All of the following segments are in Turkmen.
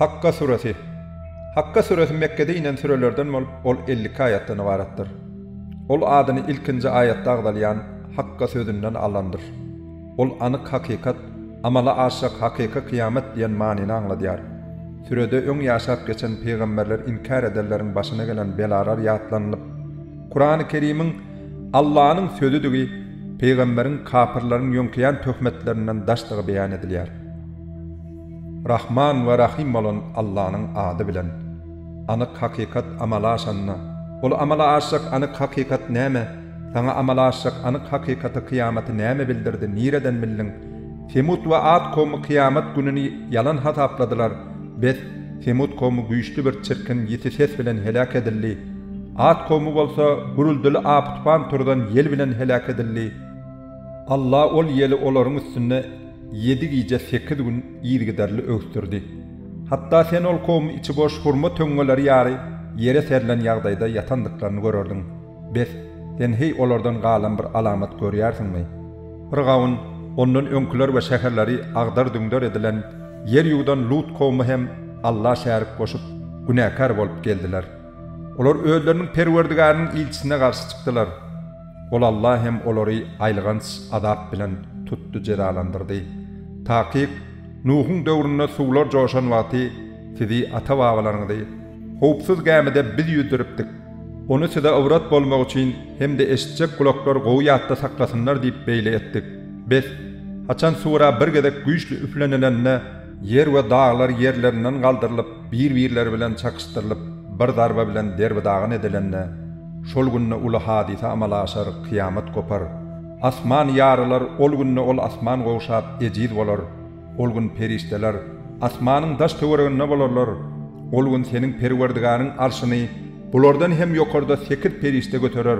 Hakga süresi. Hakga süresi Mekgede inen sürelerden bolup, ol elli iki aýatdan ybaratdyr. Ol adyny ilkinji aýatda agzalýan Hakga sözünden alandyr. Ol anyk hakykat, amala aşjak hakyky kyýamat diýen manyny aňladýar. Sürede öň ýaşap geçen pygamberler inkär edenleriň başyna gelen belalar ýatlanylyp, Kurany Kerimiň Allanyň sözüdigi pygamberiň kapyrlaryň ýöňkeýän töhmetlerinden daşdygy beýan edilýär. Rahman we Rahym bolan Allanyň ady bilen. Anyk hakykat amala aşanda, ol amala aşjak anyk hakykat näme? Saňa amala aşjak anyk hakykaty kyýamaty näme bildirdi, nireden bildiň? Semut we At kowmy kyýamat gününi ýalan hasapladylar. Bes, Semut kowmy güýçli bir çirkin, ýiti ses bilen heläk edildi. At kowmy bolsa gürültili apy-tupan turzan ýel bilen heläk edildi. Alla ol ýeli olaryň üstünde ýedi gije, sekiz gün yzygiderli öwüsdirdi. Hatda sen ol kowmy içi boş hurma töňňeleri ýaly ýere serlen ýagdaýda ýatandyklaryny görerdiň. Bes, sen heý olardan galan bir alamat görýärsiňmi? Pyrgawun, ondan öňküler we şäherleri agdar-düňder edilen, ýer ýuwdan Lut kowumy hem Alla şärik goşup, günäkär bolup geldiler. Olar özleriniň Perwerdigärynyň ilçisine garşy çykdylar. Ol Alla hem olary aýylganç azap bilen tutdy, jezalandyrdy. Takyk, Nuhuň döwründe suwlar joşan wagty sizi ata-babalaryňyzy, Howpsuz gämide biz ýüzdüripdik. Ony size ybrat bolmagy üçin hem-de eşitjek gulaklar gowy ýatda saklasynlar diýip beýle etdik. Bes, haçan sura bir gezek güýçli üflenilende, ýer we daglar ýerlerinden galdyrylyp, bir-birleri bilen çakyşdyrylyp, bir zarba bilen derbi-dagyn edilende, şol günde uly hadysa amala aşar, kyýamat gopar. Asman ýarylar, ol günde ol asman gowşap, ejiz bolar. Ol gün perişdeler asmanyň daş-töwereginde bolarlar. Ol gün seniň Perwerdigäriň arşyny bulardan hem ýokarda sekiz perişde göterer.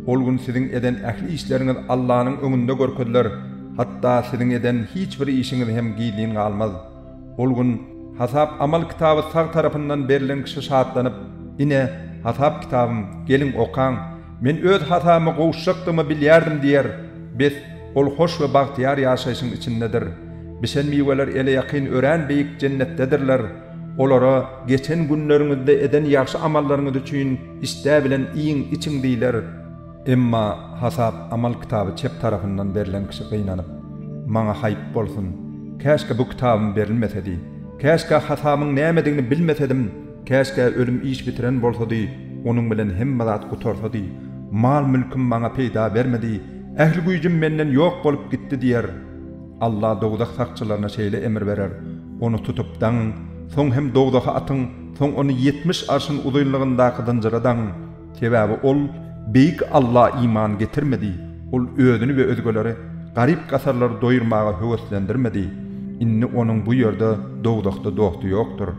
Ol gün siziň eden ähli işleriňiz Allanyň öňünde görkeziler, hatda siziň eden hiç bir işiňiz hem gizlin galmaz. Ol gün hasap-amal kitaby sag tarapyndan berlen kişi şatlanyp, Ine, hasap kitabym, geliň, okaň, men öz hasabyma gowuşjakdygymy bilýärdim diýer. Bes, Ol hoş we bagtyýar ýaşaýşyň içindedir. Bişen miweler ele ýakyn örän beýik jennetdedirler. Olara, Geçen günleriňizde eden ýagşy amallaryňyz üçin işdä bilen iýiň, içiň diýler. Emma hasap amal kitaby çep tarapyndan berlen kişi gynanyp, Maňa haýp bolsun! Käşgä bu kitabym berilmesedi! Käşgä hasabymyň nämedigini bilmesedim! Käşgä ölüm iş bitiren bolsady, onuň bilen hemme zat gutarsady! Mal-mülküm maňa peýda bermedi! Ähli güýjüm menden ýok bolup gitdi diýer. Alla dowzah sakçylaryna şeýle emr berer, Ony tutup daňyň, soň hem dowzaha atyň, soň ony ýetmiş arşyn uzynlygyndaky zynjyra daňyň. Sebäbi ol Beýik Alla iman getirmedi, ol özüni we özgeleri, garyp-gasarlary doýurmaga höweslendirmedi. Indi onuň bu ýerde, dowzahda dosty ýokdur.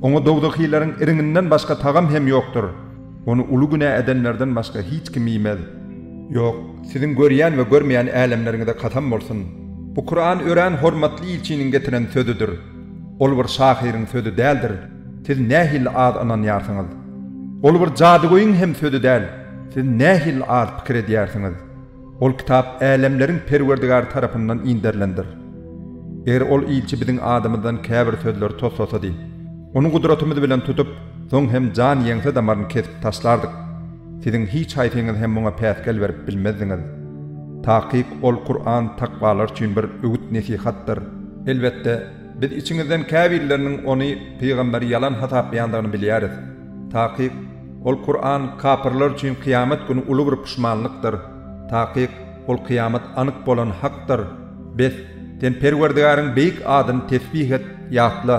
Oňa dowzahyleriň iriňinden başga tagam hem ýokdur. Ony uly günä edenlerden başga hiç kim iýmez. Ýok, siziň görýän we görmeýän älemleriňize kasam bolsun! Bu Kuran örän hormatly ilçiniň getiren sözüdir. Ol bir şahyryň sözi däldir, siz nähili az ynanýarsyňyz! Ol bir jadygöýüň hem sözi däl, siz nähili az pikir edýärsiňiz! Ol kitap älemleriň Perwerdigary tarapyndan inderilendir. Eger ol ilçi biziň adymyzdan käbir sözleri toslasady, ony gudratymyz bilen tutup, soň hem jan ýeňse damaryny kesip taşlardyk. Siziň hiç haýsyňyz hem muňa päsgel berip bilmezdiňiz. Takyk, ol Kuran takwalar üçin bir öwüt-nesihatdyr. Elbetde, biz içiňizden käbirleriniň ony, pygamberi, ýalan hasaplaýandygyny bilýäris. Takyk. Ol, Kuran, kapyrlar üçin kyýamat güni uly bir puşmanlykdyr. Takyk, ol kyýamat anyk bolan hakdyr. Bes, sen Perwerdigäriň beýik adyny tesbih et, ýatla.